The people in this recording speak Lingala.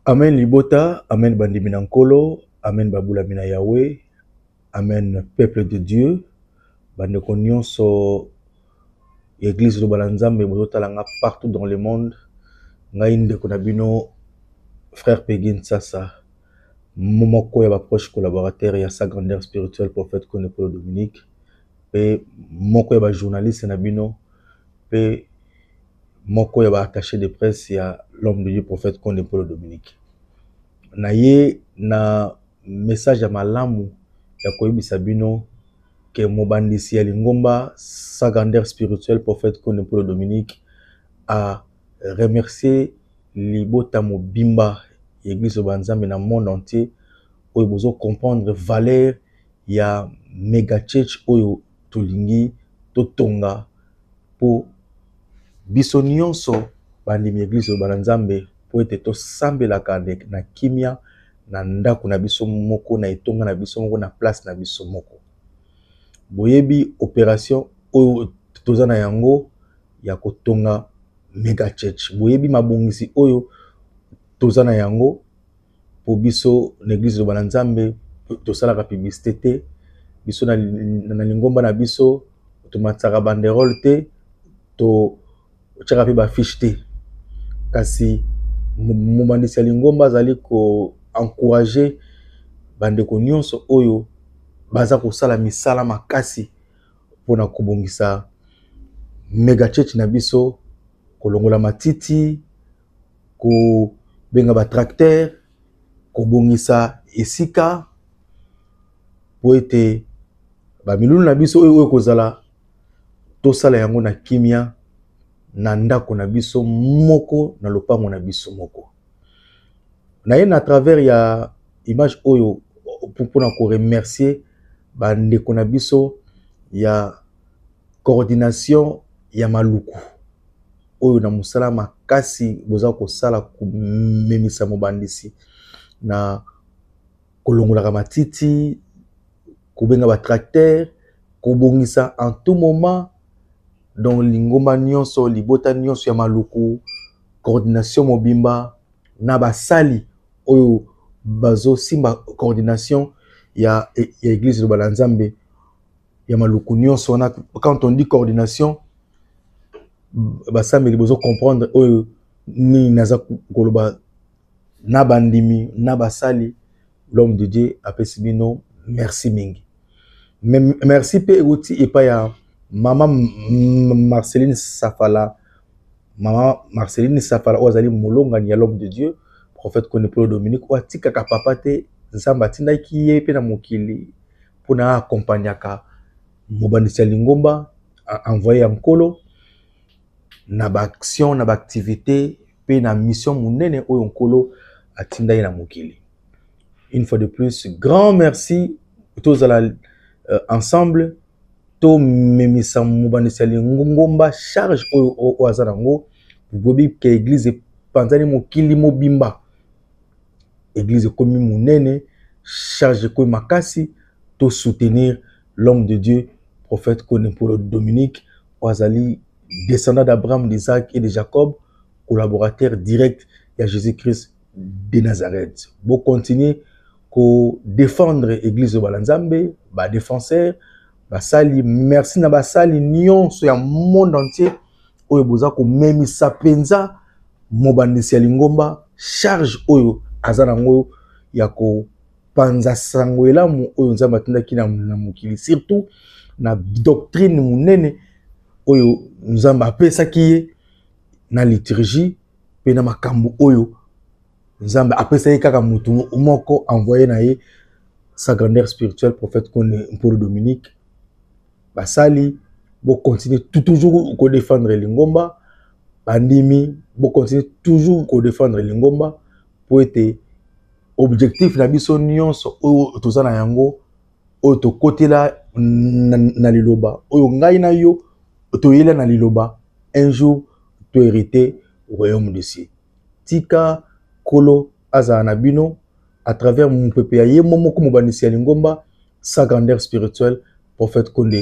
amen libota amen bandimi na nkolo amen babulami na yawe amen peuple de dieu bandeko nyonso ya eglise loba na nzambe bozotala nga partout dans le monde ngai ndeko na bino frère pegin sasa moko ya ba proches collaborateurs ya sa grandeur spirituelle prophète Kone Polo Dominique pe moko ya ba journalistes na bino pe moko ya ba attaches de presse ya l'homme de Dieu prophète Kone Polo Dominique. Naye na message ya malamu ya koyebisa bino que mobandisi ya lingomba sa grandeur spirituelle prophète Kone Polo Dominique a remercier libota mobimba ya eglise loba ya nzambe na monde entier oyo bozo comprendre valeur ya megachurch oyo tolingi totonga po biso nionso bandimi ya eglise loba ya nzambe po ete tosambelaka na kimia na ndaku na biso moko na etonga na biso moko na place na biso moko boyebi operation oyo toza na yango ya kotonga mega church. Boyebi mabongisi oyo toza na yango po biso na eglise Liloba na Nzambe tosalaka publicite te. Biso na, na lingomba na biso tomatisaka banderole te, totyaka mpe bafiche te. Kasi mobandisi ya lingomba azali ko encourager bandeko nyonso oyo baza kosala misala makasi mpo na kobongisa mega church na biso kolongola matiti kobenga ba tracteur kobongisa esika mpo ete bamilulu na biso oyo oyo ekozala tosala yango na kimia na ndako na biso moko na lopango na biso moko naye na travers ya image oyo mpona ko remercier ba ndeko na biso ya coordination ya maluku oyo na mosala makasi boza kosala komemisa mobandisi na kolongolaka matiti kobenga ba tracteur kobongisa en tout moment donc lingomba nyonso libota nyonso ya maluku coordination mobimba na basali oyo bazo simba coordination ya eglise liloba na nzambe ya maluku nionso wana quand on dit coordination basambeli bozo comprendre oyo nini naza koloba na ba ndimi na ba sali l'homme de Dieu apesi bino merci mingi merci pe ewuti epa ya mama Marceline Safala mama Marceline Safala oyo azali molongani ya l'homme de Dieu prophète Konepolo Dominique oyo atikaka papa te Nzambe atindaki ye pe na mokili pona accompagnaka mobandisi ya lingomba envoye ya nkolo na ba actions, na ba activites mpe na mission monene oyo Nkolo atinda ye na mokili. Une fois de plus, grand merci tozala euh, ensemble tomemisa mobandisi ya lingomba charge oyo oyo aza nango boyebi ke eglize epanzani mokili mobimba eglize ekomi monene charge ekomi makasi to soutenir L'homme de Dieu, prophète Kone Mpolo Dominique, oyo azali descendant d'Abraham, d'Isaac et de Jacob, collaborateur direct ya Jésus-Christ de Nazareth. Bo continuer ko défendre église de Balanzambe, ba défenseurs, basali, merci na basali nyonso ya monde entier oyo boza ko memisa penza mobandisi ya lingomba charge oyo aza na ngoyo ya ko kopanza sango elamu oyo Nzambe atindaki na, na mokili surtout na doctrine monene oyo Nzambe apesaki ye na liturgie mpe na makambo oyo Nzambe apesa ye kaka motu moko envoye na ye sa grandeur spirituelle prophète Kone Mpolo Dominique basali bokontinue toujours kodefendre lingomba bandimi bokontinue toujours kodefendre lingomba mpo ete Objectif na biso nyonso oyo toza na yango oyo tokotela na, na, na liloba oyo ngai na yo toyela na liloba un jour to hériter royaume de cieux. Tika kolo azala na bino à travers mopepe ya ye moko mobandisi ya lingomba sa grandeur spirituelle prophète Konde.